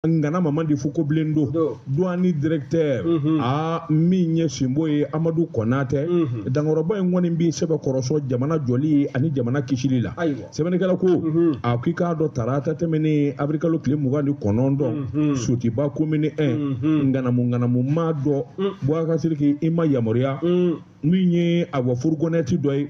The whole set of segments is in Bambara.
ngana mama de fo ko bilen do duwani directeur mhm. a min ye sinbo ye amadu kɔnatɛ mhm. dankɔrɔba in kɔni bi sɛbɛkɔrɔ sɔn jamana jɔli ani jamana kisili la sɛbɛnnikɛla ko mhm. a ko i k'a dɔn tarata tɛmɛnen abirikalo tile mugan ni kɔnɔntɔn sotuba komini 1 nganamu nganamu maa dɔ bɔgasiriki i ma yamaruya min ye awa furugɔnɛti dɔ ye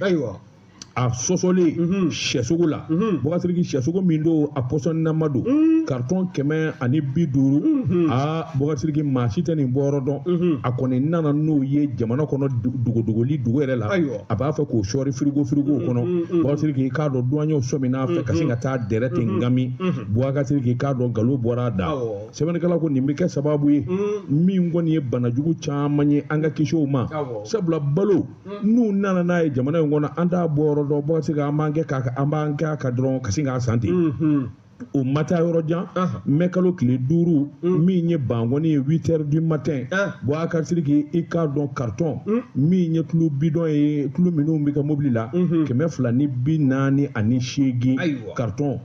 a sɔsɔlen mhm. syɛsogo la mhm. bɔgasiriki syɛsogo min don a pɔsɔnnama don mhm. karitɔn kɛmɛ ani bi duuru a bɔgasiriki maa si tɛ nin bɔyɔrɔ dɔn a kɔni nana n'o ye jamana kɔnɔ dogodogoli dogo yɛrɛ la a b'a fɛ k'o sɔɔri firigo firigow kɔnɔ bɔgasiriki k'a dɔn duwanyew sɔmina a fɛ ka sin ka taa dɛrɛ ten ngami bɔgasiriki k'a dɔn nkalon bɔra a da sɛbɛnnikɛla ko nin bɛ kɛ sababu ye min kɔni ye banajugu caman ye an ka kisi u ma sabula balo n'u nana n'a ye jamana in kɔnɔ an t'a bɔyɔrɔ dɔn bɔgasiriki an b'an kɛ k'a an b'an kɛ a kan dɔrɔn ka sin k'a san ten mm-hmm. o ma taa yɔrɔ jan mɛ kalo tile duuru mm. min ye bankɔni ye huit heures du matin bɔgasiriki i k'a dɔn karitɔn mm. min ye tulu bidɔn ye tulu minnu bɛ kɛ mobili la mm-hmm. kɛmɛ fila ni bi naani ani seegin karitɔn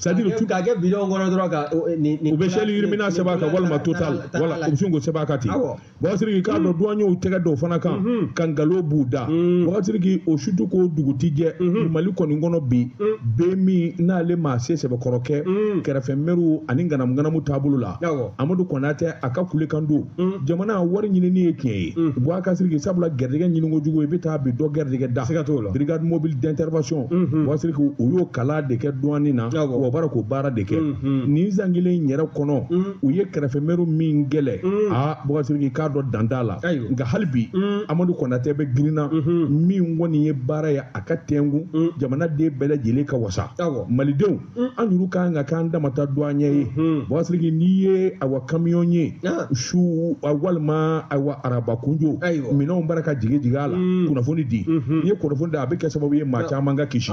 c'est-à-dire tulu k'a kɛ bidɔn kɔnɔ dɔrɔn ka u bɛ shell rimula sɛbɛn a kan walima total wala u bɛ sin k'o sɛbɛn a kan ten bɔgasiriki k'a dɔn duwaɲɛw mm-hmm. tɛgɛ da o fana kan mm-hmm. ka nkalon b'u da mm-hmm. bɔgasiriki o su tɛ ko dugu tɛ jɛ mali kɔni kɔnɔ bi bɛɛ min n'ale ma se sɛbɛkɔrɔ kɛ kɛrɛfɛ mɛriw ani nganamu nganamu taabolo la amadu kɔnatɛ a ka kulekan don mm. jamana wari ɲinini ye tiɲɛ ye mm. bɔgasiriki sabula gɛrijɛgɛ ɲini kojugu i bɛ taa bin dɔ gɛrijɛgɛ da siga t'o la brigade mobile d'intervention mm-hmm. bɔgasiriki u y'o kala de kɛ duwani na wa baara k'o baara de kɛ mm-hmm. nin san kelen in yɛrɛ kɔnɔ mm. u ye kɛrɛfɛ mɛriw min kɛlɛ a bɔgasiriki k'a dɔn dan t'a la nka hali bi amadu kɔnatɛ bɛ girinna mm-hmm. min kɔni ye baara ye a kan tɛngun jamanaden bɛɛ lajɛlen ka wasa malidenw an kuuru kan ka k'an dama ta duwanye ye bɔgasiriki n'i ye awa kamiyɔn ye su walima awa araba kunjo minɛnw b'a la ka jigi jigi a la kunnafoni di n'i ye kunnafoni di a bɛ kɛ sababu ye maa caman ka kisi